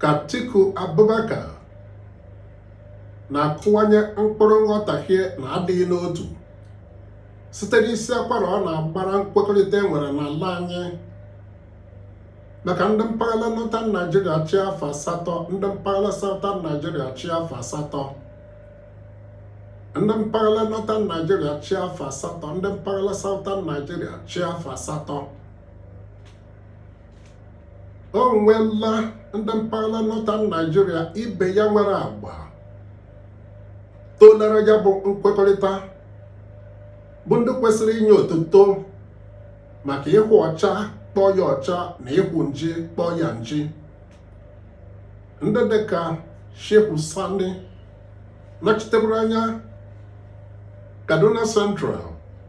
ka Atiku Abubakar na-akụwanye mkpụrụ nghọtahie na adịghị n'otu site n'isi akwara ọ na-agbara nkwekọrịta e nwere n'ala anyị maka ndị mpaghara Northern Nigeria chịa afọ asatọ ndị mpaghara Southern Nigeria chịa afọ asatọ ndị mpaghara Northern Nigeria chịa afọ asatọ ndị mpaghara Southern Nigeria chịa afọ asatọ o nweela ndị mpaghara Northern Nigeria ibe ya nwere agba toolara ya bụ nkwekọrịta bụ ndị kwesịrị inye otuto maka ịhụ ọcha kpọọ ya ọcha na ịhụ nji kpọọ ya nji ndị dịka Shehu Sani nọchiteburu anya Kaduna Central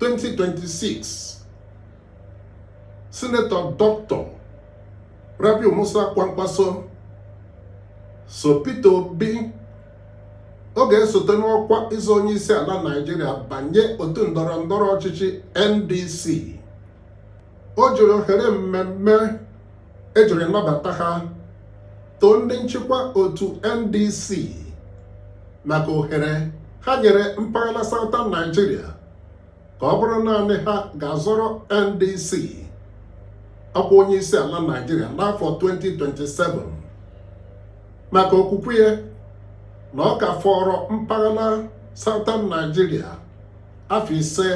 2026 sinetọ dọkịta Rabiu Musa Kwankwaso so Peter Obi ọ ga-esote n'ọkwa ịzọ onye isi ala Naịjirịa banye otu ndọrọ ndọrọ ọchịchị NDC o jiri ohere mmemme e jiri nabata ha too ndị nchịkwa otu NDC maka ohere ha nyere mpaghara Southern Nigeria ka ọ bụrụ naanị ha ga-azọrọ NDC ọkwa onye isi ala Nigeria n'afọ 2027 maka okwukwe ya na ọ ka fọrọ mpaghara Southern Nigeria afọ ise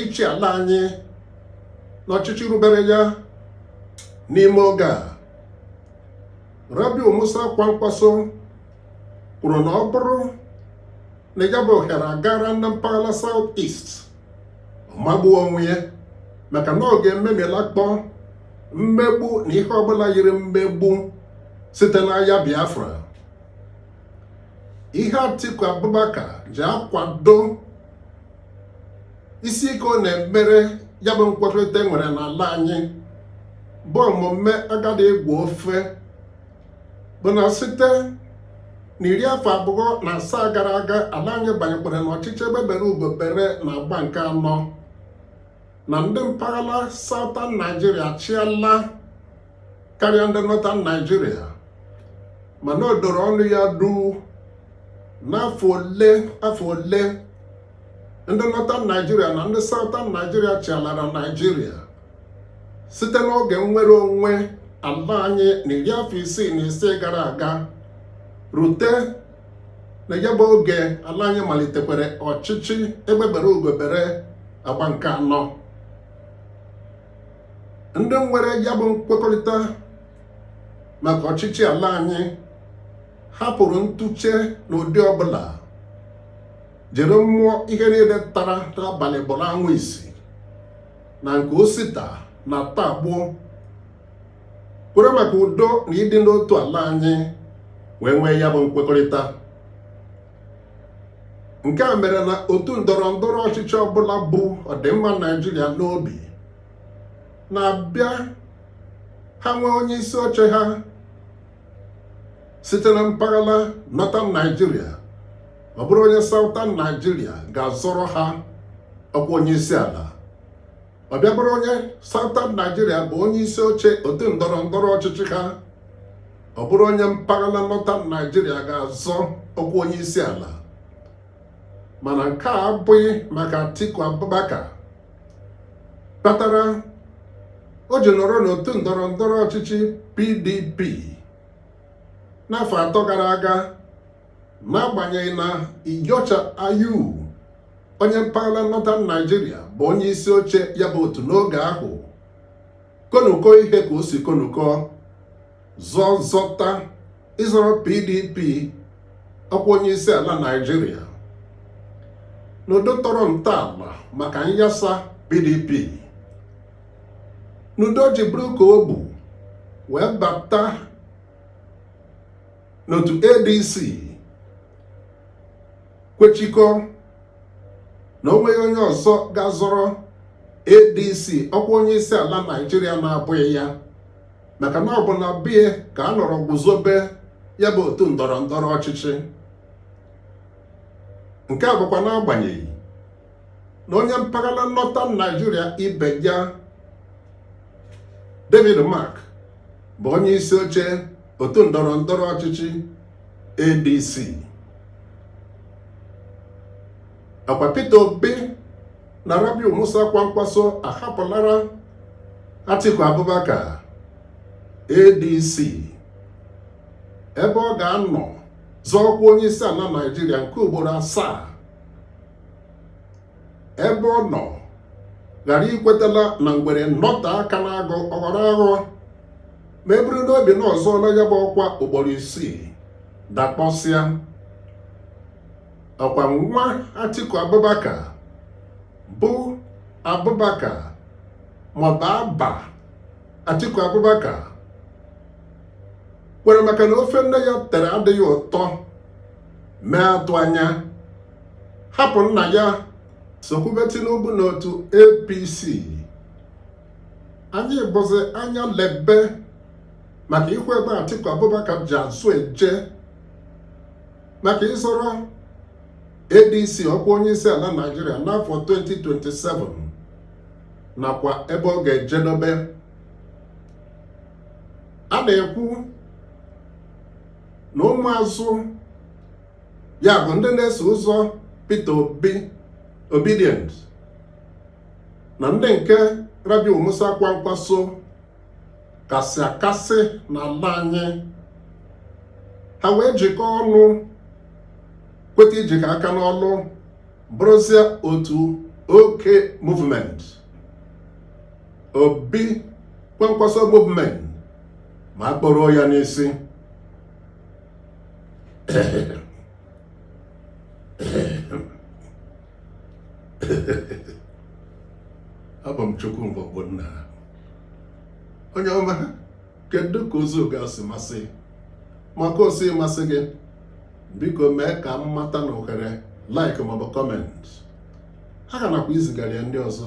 ịchị ala anyị n'ọchịchị rubere ya n'ime oge a Rabiu Musa Kwankwaso kwuru na ọ bụrụ na ya bụ ohere agara na mpaghara South East magbuo onwe ya maka na ọ ga-ememilakpọ mmegbu na ihe ọbụla yiri mmegbu site n'agha Biafra ihe Atiku Abubakar ji akwado isi ike ọ na-emere ya bụ nkwekọrịta e nwere n'ala anyị bụ omume agadi ịgwọ ofe bụ na site na iri afọ abụọ na asaa gara aga ala anyị banyekwara n'ọchịchị egbe bere ugo bere na agba nke anọ na ndị mpaghara Southern Nigeria chịala karịa ndị Northern Nigeria mana o doro ọnụ ya duu n'afọ ole afọ ole ndị Northern Nigeria na ndị Southern Nigeria chịalara Nigeria site n'oge nnwere onwe ala anyị na iri afọ isii na ise gara aga rute na ya bụ oge ala anyị malitekwara ọchịchị egbe bere ugo bere agba nke anọ ndị nwere ya bụ nkwekọrịta maka ọchịchị ala anyị hapụrụ ntụche n'ụdị ọbụla jiri mmụọ ihe niile tara n'abalị bụrụ anwụ isi na nke osita na taa gboo kwere maka udo na ịdị n'otu ala anyị wee nwee ya bụ nkwekọrịta nke a mere na otu ndọrọ ndọrọ ọchịchị ọbụla bu ọdịmma naijiria n'obi na-abịa ha nwee onye isi oche ha site na mpaghara northern naijiria ọ bụrụ onye southern naijiria ga-azọrọ ha ọkwa onye isi ala ọ bịa bụrụ onye Southern Nigeria bụ onye isi oche otu ndọrọ ndọrọ ọchịchị ha ọ bụrụ onye mpaghara Northern Nigeria ga-azọ ọkwa onye isi ala mana nke a abụghị maka Atiku Abubakar kpatara o ji nọrọ n'otu ndọrọ ndọrọ ọchịchị PDP n'afọ atọ gara aga n'agbanyeghị na Iyorchia Ayu onye mpaghara Northern Nigeria bụ onye isi oche ya bụ otu n'oge ahụ konuko ihe ka o si konuko zọzọta ịzọrọ PDP ọkwa onye isi ala Naịjirịa n'ụdị ọ tọrọ ntọala maka nyasa PDP n'ụdị o ji buru ka o bu wee bata n'otu ADC kwechikọ na o nweghị onye ọzọ ga-azọrọ ADC ọkwa onye isi ala Naijiria na-abụghị ya maka na ọ bụ na be ya ka a nọrọ guzobe ya bụ otu ndọrọ ndọrọ ọchịchị nke a bụkwa n'agbanyeghị na onye mpaghara Northern Naijiria ibe ya David Mark bụ onye isi oche otu ndọrọ ndọrọ ọchịchị ADC ọkwa Peter Obi na Rabiu Musa Kwankwaso ahapụlara Atiku Abubakar ADC ebe ọ ga-anọ zọọ ọkwa onye isi ala Naijiria nke ugboro asaa ebe ọ nọ ghara ikwetala na ngwere nọta aka n'agụ ọ ghọrọ aghụ ma e buru n'obi na ọ zọọla ya bụ ọkwa ugboro isii dakpọsịa ọkwa nwa Atiku Abubakar bụ Abubakar maọbụ Abba Atiku Abubakar kwere maka na ofe nne ya tere adịghị ụtọ mee atụ anya hapụ nna ya sokwube Tinubu n'otu APC anyị bụzi anya lebe maka ikwu ebe Atiku Abubakar ji azụ eje maka ịzọrọ ADC ọkwa onye isi ala Naịjirịa n'afọ 2027 nakwa ebe ọ ga-ejedobe a na-ekwu na ụmụazụ ya bụ ndị na-eso ụzọ Peter Obi Obidient na ndị nke Rabiu Musa Kwankwaso kasị akasị n'ala anyị ha wee jikọọ ọnụ kweta ijikọ aka n'ọlụ bụrụzie otu OK movement Obi Kwankwaso movement ma a kpọrọ ya n'isi abụ m Chukwuma Ogbonna onye ọma kedu ka ozi ga si masị ma ka o si masị gị biko mee ka m mata n'ohere like maọbụ comment ha ga nakwa izigara ya ndị ọzọ